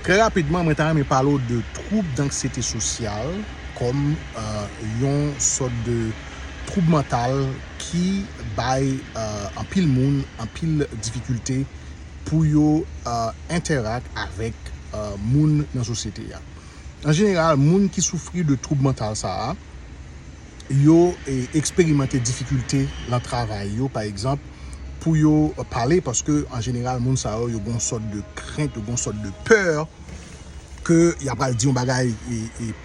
Trè rapidman mwen ta renmen pale w de twoub danksyete sosyal kòm yon sòt de twoub mantal ki bay anpil moun anpil difikilte pou yo entèrak avèk moun nan sosyete a. An jeneral moun ki soufri de twoub mantal sa a. yo eksperimante difikilte nan travay yo pa egzanp pou yo pale paske an jeneral moun sa yo yo gen yon sòt de krent yo gen yon sòt de pè ke y apral di yon bagay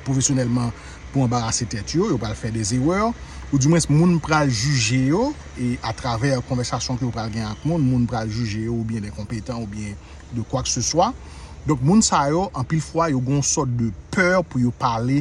pwofesyonèlman pou anbarase tèt yo yo pral fè de zerè ou di mwens moun pral jije yo e atravè konvèsasyon ke yo pral gen ak moun moun pral jije yo oubyen enkonpetan oubyen de kwak se swa donk moun sa yo anpil fwa yo gen yon sòt de pè pou yo pale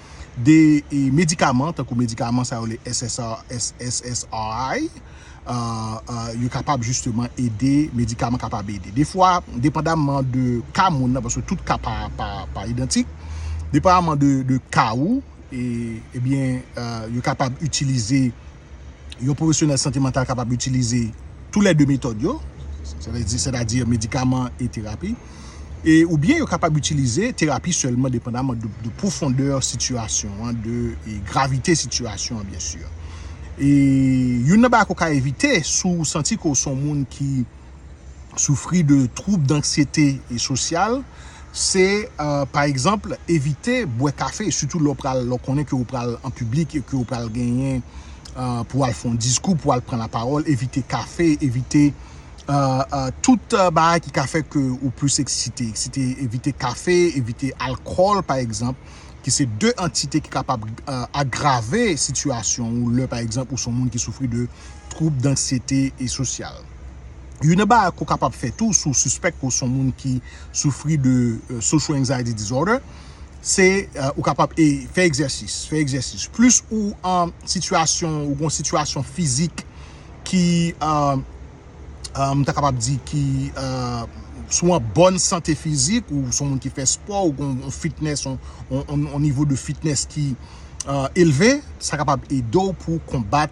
de medikaman tankou medikaman sa yo rele SSRI yo kapab jisteman ede, medikaman kapab ede. Defwa, depandamman de ka moun nan, paske tout ka pa idantik, depandamman de ka ou, ebyen yo kapab itilize. yon pwofesyonèl sante mantal kapab itilize tou lè de metòd yo, sètadi medikaman e terapi, e oubyen yo kapab itilize terapi sèlman depandaman de pwofondè sitiyasyon an, de gravite sitiyasyon an byensi. E youn nan bagay ke w ka evite si w santi ke w se yon moun ki. soufri de twoub danksyete sosyal se pa egzanp evite bwè kafe sitou lè w konnen ke w pral an piblik e ke w pral genyen pou w al fè yon diskou, pou w al pran lapawòl, evite kafe, evite tout bagay ki ka fè ke ou plis eksite, eksite, evite kafe, evite alkòl pa egzanp ki se de antite ki kapab agrave sitiyasyon ou lè pa egzanp ou son moun ki soufri de twoub danksyete sosyal. Youn nan bagay ke w kapab fè tou si w sispèk ke w se yon moun ki soufri de social anxiety disorder, se ou kapab fè egzèsis, fè egzèsis. Plis ou an sitiyasyon, ou gen yon sitiyasyon fizik ki, m ta kapab di ki, si w an bòn sante fizik, ou se yon moun ki fè spò, ou gen yon fitness, yon nivo de fitness ki elve, sa kapab ede w pou konbat.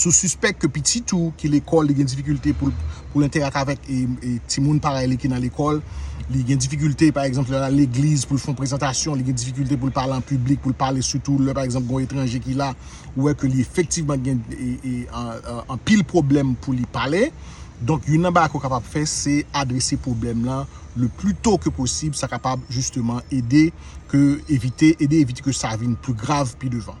Si w sispèk ke pitit ou ki lekòl li gen difikilte pou l enterak avèk timoun parèy li ki nan lekòl, li gen difikilte pa egzanp lè l al legliz pou l fè yon prezantasyon, li gen difikilte pou l pale an piblik, pou l pale sitou lè pa egzanp gen yon etranje ki la, ou wè ke li efektivman gen anpil pwoblèm pou li pale. Donk youn nan bagay ke w kapab fè se adrese pwoblèm lan le pli to ke posib sa kapab jisteman ede ke evite ede evite ke sa vin pli grav pi devan.